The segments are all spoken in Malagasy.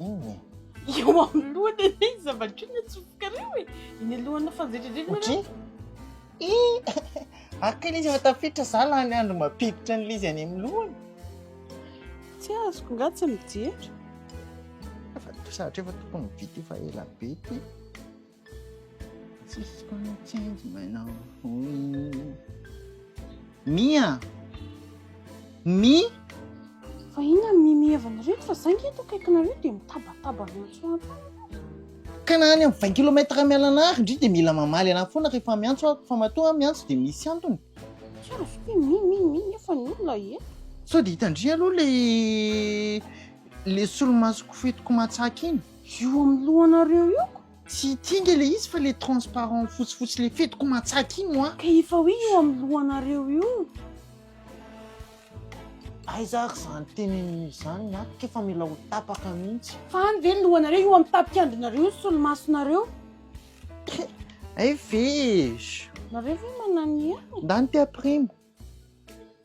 Inona e? Eo amin'ny lohany anie ny zava-dreny atsofokareo e. Eny alohan'ny fanjedridrena. Otry? I! Aka ilay izy efa tafiditra za lany andro mampiditra an'ilay izy any amin'ny lohany. Tsy azoko nga tsy mijery. Efa to- sahatr'efa tokony vita efa ela be ity. Mia! Mi! Fa inona ny mimi heviny ireto fa za nge eto akaikinareo dia mitabataba avy eo an-tsoratra any ianareo. Ka na any amin'ny vingt kilomètre mialana ary ndry dia mila mamaly anah foana rehefa miantso aho fa matoa aho miantso dia misy antony. Kara ve hoe mi mi mi nefa ny olona eto. Sao dia hitan-dry aloha ilay ilay solomaso kofetiko matsaka iny. Io amin'ny lohanareo io ko. Tsy ity nge le izy fa le transparent fotsifotsy le fetiko matsaka iny wa. Ka efa hoe io amin'ny lohanareo io. Aiza ary izany teneniny izany ny ahy k'efa mila ho tapaka mihitsy. Fa any ve ny lohanareo io amin'ny tapikandrinareo io ny solomasonareo. Hay ve e! Nareo ve mananihany? Ndany te hampirimo.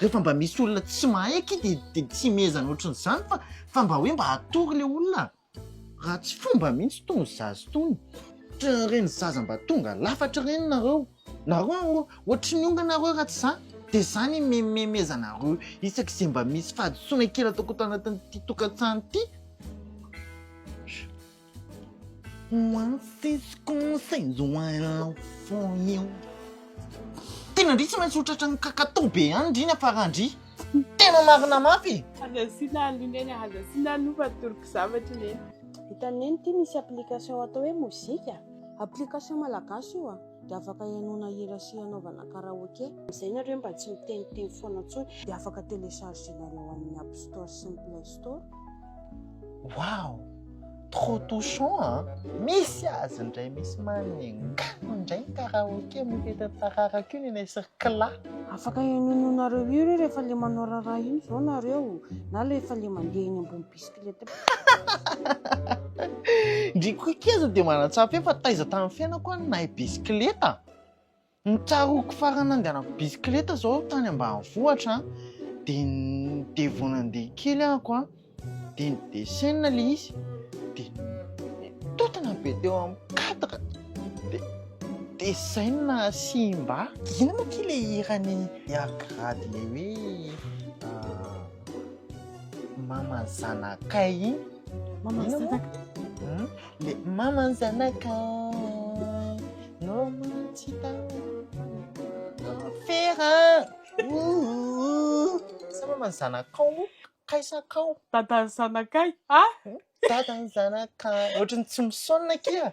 Rehefa mba misy olona tsy mahay aky de de tsy imezana ohatran'izany fa fa mba hoe mba atory le olona raha tsy fomba mihitsy tony zaza tony ohatran'ny ireny zaza mba tonga lafatra ireny nareo nareo ohatry ny onga nareo raha tsy za de za ny mimemeza anareo isaky ze mba misy fahadisoana kely ataoko ato anatin'ity tokantrano ity. What is consensual for you? Tena ndry tsy maintsy ho tratran'ny kakato be ihany ndry ny afarandry. Tena marina mafy e! Aza asiana alu neny, aza asiana alu fa atoroko zavatra neny. Hitan'i Neny ity misy application atao hoe Mozika. Application malagasy io a! Dia afaka hihainoana hira sy hanaovana karaoke. Amin'izay nareo mba tsy miteniteny foana intsony. Dia afaka telechargenareo amin'ny App Store sy ny Play Store. Waouh trop touchant a! Misy azy indray misy manenga indray ny karaoke amin'ny fetin'ny tararaka io ny anay sy ry kla. Afaka henoinonareo hira io rehefa le manao raharaha iny zao nareo na rehefa le mandeha eny ambony bisikileta. Ndry koa keza dia manatsara feo fa taiza tamin'ny fiainako aho no nahay bisikileta. Ny tsaroako farany nandehanako bisikileta zao tany ambanivohitra de vao nandeha kely ahako an de nidesenina le izy de nitontona be teo amin'ny cadre de desenina simba. Ino moa ty le hiran'i Yagrad le hoe mama zanakay iny? Mama zanakay? Le maman zanakay no tsy fera oh sa maman zanakao moa kaisakao dadan'ny zanakay a dadan'ny zanakay ohatran'ny tsy misaona kia